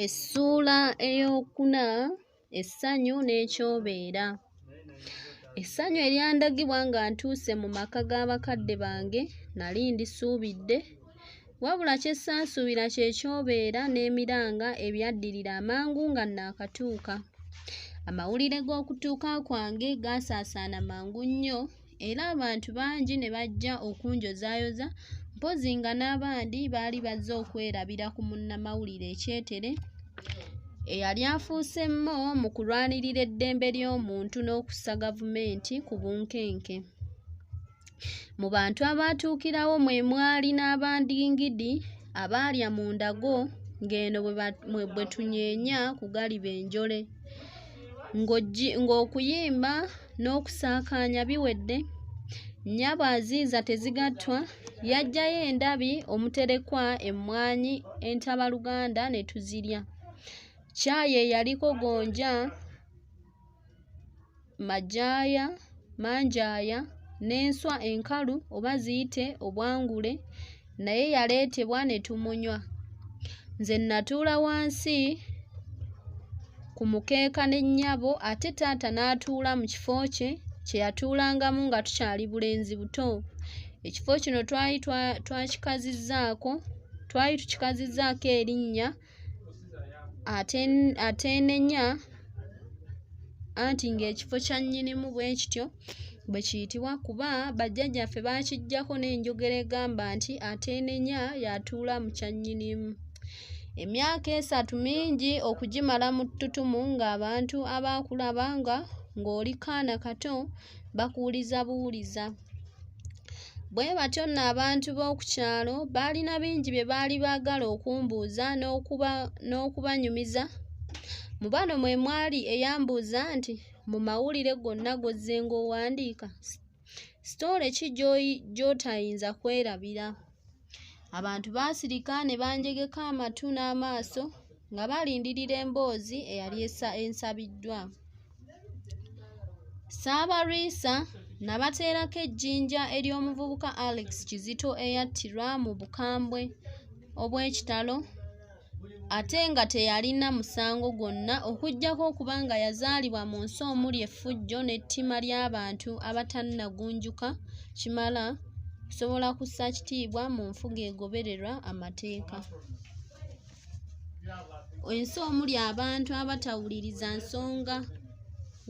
Essuula ey'okuna essanyu n'ekyobeera. Essanyu eryandagibwa nga ntuuse mu maka ga bakadde bange nali ndisuubidde, wabula kye saasuubira kye kyobeera n'emiranga ebyaddirira amangu nga nnaakatuuka. Amawulire g'okutuuka kwange gaasaasaana mangu nnyo. era abantu bangi ne bajja okunjozaayoza mpozi nga n'abandi baali bazze okwerabira ku munnamawulire ekyetere eyali afuuse mmo mu kulwanirira eddembe ly'omuntu n'okussa gavumenti ku bunkenke mu bantu abaatuukirawo mwe mwali n'abandingidi abaalya mu ndago ng'eno bwe tunyeenya ku galiba enjole ng'okuyimba n'okusaakaanya biwedde nnyabo aziiza tezigattwa yaggyayo endabi omuterekwa emmwanyi entabaluganda ne tuzirya caayi eyaliko gonja majaaya manjaaya n'enswa enkalu oba ziyite obwangule naye yaleetebwa ne tumunywa nze nnatuula wansi ku mukeeka ne nnyabo ate taata n'atuula mu kifo kye kye yatuulangamu nga tukyali bulenzi buto ekifo kino twali twakikazizzaako twali tukikazizzaako erinnya ateenenya anti ng'ekifo kya nnyinimu bwe kityo bwe kiyitibwa kuba bajjajjaffe baakiggyako n'enjogera egamba nti ateenenya y'atuula mu kya nnyinimu emyaka esatu mingi okugimala mu ttutumu ng'abantu abaakulaba nga ng'oli kaana kato bakuwuliza buwuliza Bwe batyo nno abantu b'oku kyalo baalina bingi bye baali baagala okumbuuza n'okubanyumiza. Mu bano mwe mwali eyambuuza nti, Mu mawulire gonna g'ozze ng'owandiika, sitole ki gy'otayinza kwerabira? Abantu baasirika ne banjegeka amatu n'amaaso nga balindirira emboozi eyali ensabiddwa. Ssaabalwisa nabateerako ejjinja ery'omuvubuka Alex Kizito eyattirwa mu bukambwe obw'ekitalo ate nga teyalina musango gwonna okuggyako okuba nga yazaalibwa mu nsi omuli effujjo n'ettima ly'abantu abatannagunjuka kimala kusobola kussa kitiibwa mu nfuga egobererwa amateeka ensi omuli abantu abatawuliriza nsonga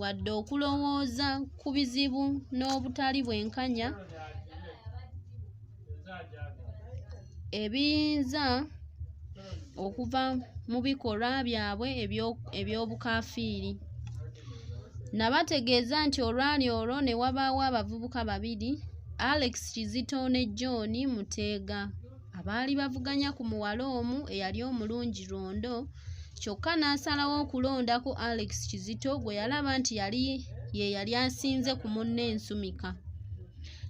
wadde okulowooza ku bizibu n'obutali bwenkanya ebiyinza okuva mu bikolwa byabwe eby'obukafiiri nabategeeza nti olwali olwo ne wabaawo abavubuka babiri alex kizito ne john muteega abaali bavuganya ku muwala omu eyali omulungi lwondo kyokka n'asalawo okulondako alex kizito gwe yalaba nti yali ye yali asinze ku munne ensumika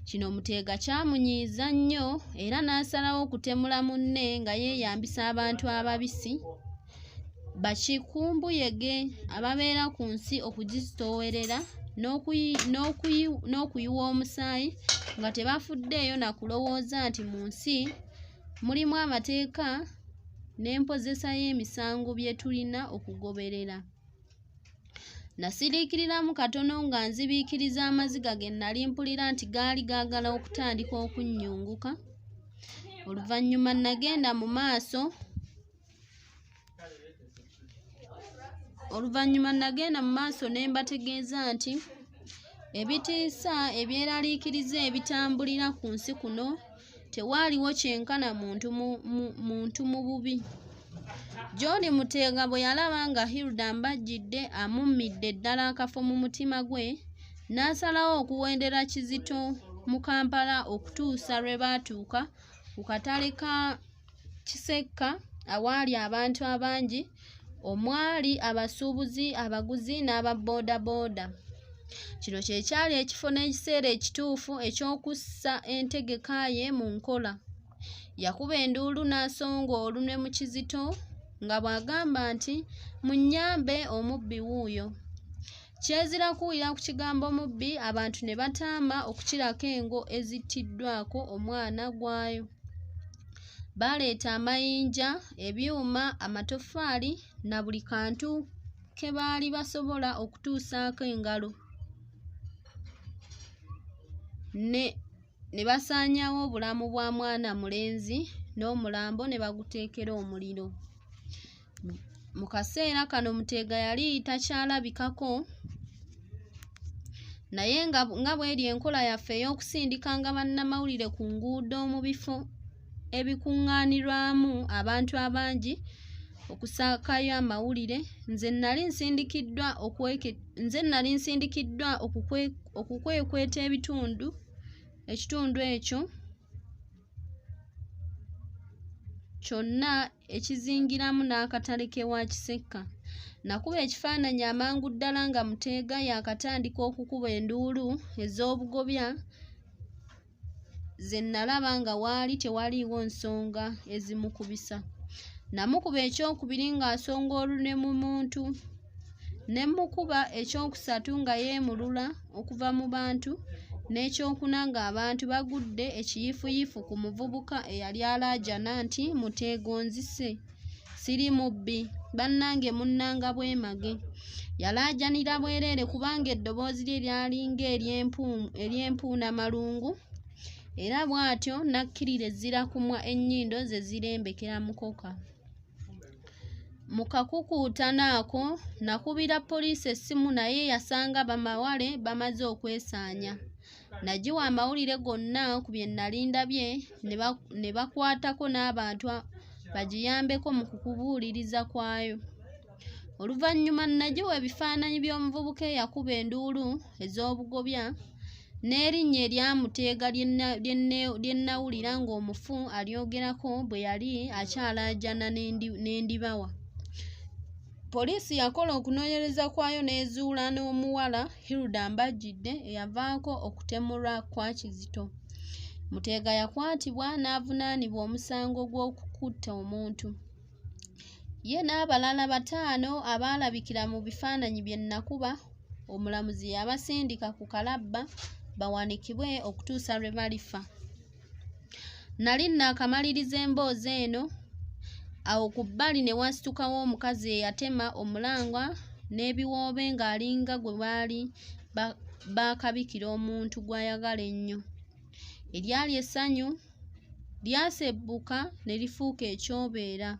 Kino Muteega kyamunyiiza nnyo era n'asalawo okutemula munne nga yeeyambisa abantu ababisi bakikumbuyege ababeera ku nsi okugizitoowerera n'okuyiwa omusaayi nga tebafuddeeyo na kulowooza nti mu nsi mulimu amateeka n'empozesa y'emisango bye tulina okugoberera. Nasiriikiriramu katono nga nzibiikiriza amaziga ge nnali mpulira nti gaali gaagala okutandika okunnyunguka. Oluvannyuma nagenda mu maaso oluvannyuma nagenda mu maaso ne mbategeeza nti ebitiisa ebyeraliikiriza ebitambulira ku nsi kuno tewaaliwo kyenkana muntu mu, mu, muntu mu bubi john muteega bwe yalaba nga hilda mbajjidde amummidde ddala akafo mu mutima gwe n'asalawo okuwendera kizito mu kampala okutuusa lwe baatuuka ku katale ka kisekka awaali abantu abangi omwali abasuubuzi abaguzi n'aba boodabooda kino kye kyali ekifo n'ekiseera ekituufu eky'okussa entegeka ye mu nkola yakuba enduulu n'asonga olunwe mu kizito nga bw'agamba nti munnyambe omubbi wuuyo Kyezira kuwulira ku kigambo mubbi abantu ne bataama okukirako engo ezittiddwako omwana gwayo. Baaleeta amayinja, ebyuma, amatoffaali na buli kantu ke baali basobola okutuusaako engalo ne ne basaanyaawo obulamu bwa mwana mulenzi n'omulambo ne baguteekera omuliro. Mu kaseera kano Muteega yali takyalabikako naye nga nga bweri enkola yaffe ey'okusindikanga bannamawulire ku nguudo mu bifo ebikuŋŋaanirwamu abantu abangi okusaakayo amawulire nze nali nsindikiddwa okweke nze nali nsindikiddwa okukwe okukwekweta ebitundu ekitundu ekyo kyonna ekizingiramu n'akatale k'ewa Kisekka. Nakuba ekifaananyi amangu ddala nga Muteega yaakatandika okukuba enduulu ez'obugobya ze nnalaba nga waali tewaliiwo nsonga ezimukubisa. Namukuba ekyokubiri ng'asonga olune mu muntu. ne mmukuba ekyokusatu nga yeemulula okuva mu bantu n'ekyokuna ng'abantu bagudde ekiyifuyifu ku muvubuka eyali alaajana nti muteegonzise siri mubbi bannange munnanga bwemage yalaajanira bwereere kubanga eddoboozi lye lyalinga ery'empuuna malungu era bw'atyo n'akkirira ezzirakumwa ennyindo ze zirembekera mukoka Mu kakukuutano ako, nakubira poliisi essimu naye yasanga bamawale bamaze okwesaanya. Nagiwa amawulire gonna ku bye nnali ndabye ne bakwatako n'abantu bagiyambeko mu kukubuuliriza kwayo. Oluvannyuma nagiwa ebifaananyi by'omuvubuka eyakuba enduulu ez'obugobya n'erinnya erya muteega lye nnawulira ng'omufu alyogerako bwe yali akyalaajana n'endibawa poliisi yakola okunoonyereza kwayo n'ezuula n'omuwala hilda mbajjidde eyavaako okutemulwa kwa kizito muteega yakwatibwa n'avunaanibwa omusango gw'okukutta omuntu ye n'abalala bataano abaalabikira mu bifaananyi bye nnakuba omulamuzi yabasindika ku kalabba bawanikibwe okutuusa lwe balifa nali nnakamaliriza emboozi eno awo ku bbali ne wasitukawo omukazi eyatema omulangwa n'ebiwoobe ng'alinga gwe baali baakabikira omuntu gw'ayagala ennyo eryali essanyu lyasebbuka ne lifuuka ekyobeera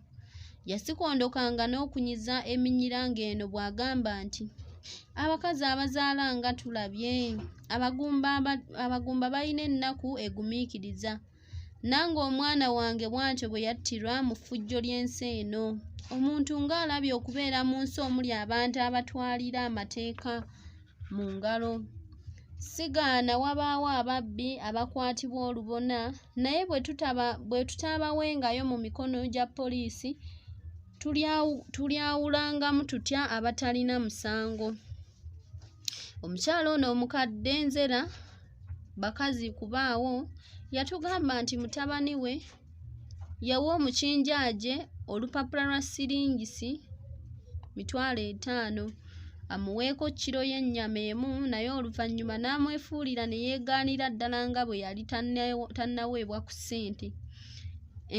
yasikondokanga n'okunyiza eminyira ng'eno bw'agamba nti abakazi abazaala nga tulabye abagumba balina ennaku egumiikiriza nange omwana wange bw'atyo bwe yattirwa mu ffujjo ly'ensi eno omuntu ng'alabye okubeera mu nsi omuli abantu abatwalira amateeka mu ngalo. Sigaana wabaawo ababbi abakwatibwa olubona naye bwe tutaabawengayo mu mikono gya poliisi tulyawulangamu tutya abatalina musango. Omukyala ono omukadde nzera bakazi kubaawo yatugamba nti mutabani we yawa omukinjaaje olupapula lwa siringisi mitwalo etaano amuweeko kiro y'ennyama emu naye oluvannyuma n'amwefuulira ne yeegaanira ddala nga bwe yali tannaweebwa ku ssente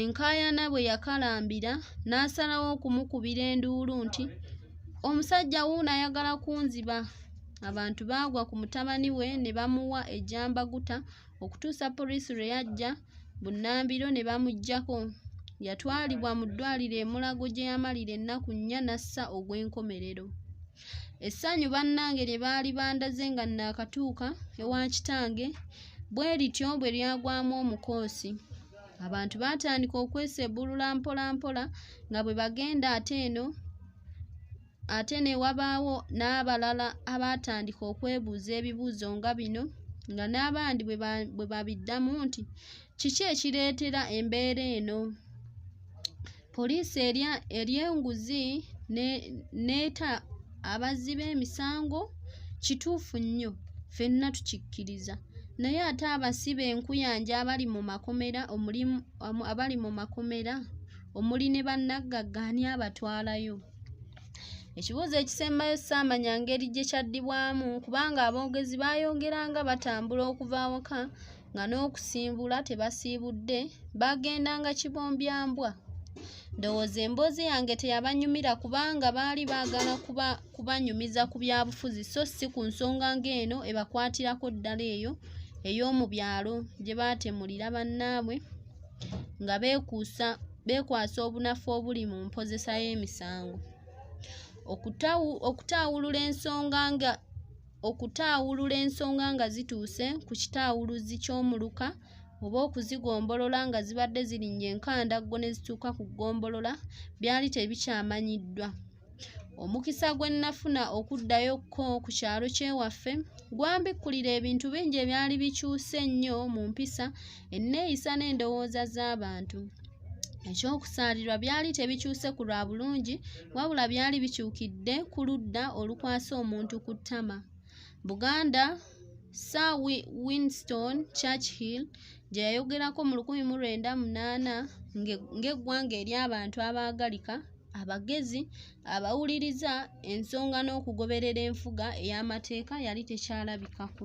enkaayana bwe yakalambira n'asalawo okumukubira enduulu nti omusajja wuuno ayagala kunziba abantu baagwa ku mutabani we ne bamuwa ejambaguta okutuusa poliisi lwe yajja bunnambiro ne bamuggyako yatwalibwa mu ddwaliro e mulago gye yamalira ennaku nnya n'assa ogw'enkomerero essanyu bannange lye baali bandaze nga nnaakatuuka ewa kitange bwe lityo bwe lyagwamu omukoosi abantu baatandika okwesebbulula mpolampola nga bwe bagenda ate eno Ate ne wabaawo n'abalala abaatandika okwebuuza ebibuuzo nga bino nga n'abandi bwe babiddamu nti kiki ekireetera embeera eno poliisi erya enguzi n'eta abazzi b'emisango kituufu nnyo ffenna tukikkiriza naye ate abasibe enkuyanja abali mu makomera abali mu makomera omuli ne bannaggagga ani abatwalayo Ekibuuzo ekisembayo saamanya ngeri gye kyaddibwamu kubanga aboogezi baayongera nga batambula okuva awaka nga n'okusimbula tebasiibudde baagendanga kibombyambwa. Ndowooza emboozi yange teyabanyumira kubanga baali baagala kuba kubanyumiza ku byabufuzi so si ku nsonga ng'eno ebakwatirako ddala eyo ey'omu byalo gye baatemulira bannaabwe. nga beekuusa beekwasa obunafu obuli mu mpozesa y'emisango okutaawulula ensonga nga okutaawulula ensonga nga zituuse ku kitaawuluzi ky'omuluka oba okuzigombolola nga zibadde zirinnya enkandaggo ne zituuka ku ggombolola byali tebikyamanyiddwa Omukisa gwe nnafuna okuddayo ko ku kyalo ky'ewaffe gwambikkulira ebintu bingi ebyali bikyuse ennyo mu mpisa, enneeyisa n'endowooza z'abantu. Eky'okusaalirwa byali tebikyuse ku lwa bulungi, wabula byali bikyukidde ku ludda olukwasa omuntu ku ttama. Buganda, Sir Winston Churchill gye yayogerako mu lukumi mu lwenda munaana ng'eggwanga ery'abantu abaagalika, abagezi abawuliriza ensonga n'okugoberera enfuga ey'amateeka yali tekyalabikako.